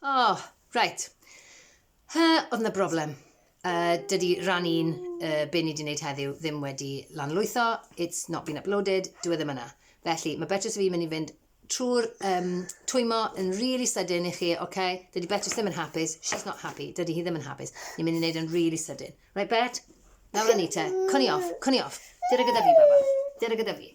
O, oh, reit. Hy, oedd yna broblem. Uh, dydy rhan un, uh, be ni wedi gwneud heddiw, ddim wedi lanlwytho, it's not been uploaded, dwi e ddim yna. Felly, mae Beatrice fi'n mynd i fynd trwy'r um, twymo yn really sydyn i chi, oce? Okay? Dydy Beatrice ddim yn hapus, she's not happy, dydy hi ddim yn hapus. Ni'n mynd i wneud yn really sydyn. Right, Bet? Nawr ni te, cwni off, cwni off. Dyna gyda fi, baba. Dyna gyda fi.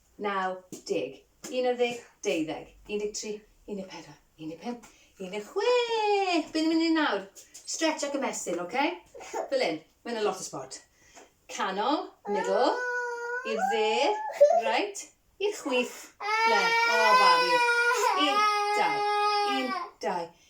naw deg, unarddeg, deuddeg, undeg tri, undeg pedwar, undeg pump, undeg chwech. Beth ni'n mynd i nawr? Stretch ac ymestyn, oce? Okay? Fel un, mae'n a lot o sport. Canol, middle, i'r dde, right, i'r chwith, left. O, oh, babi. Un, dau, un, dau,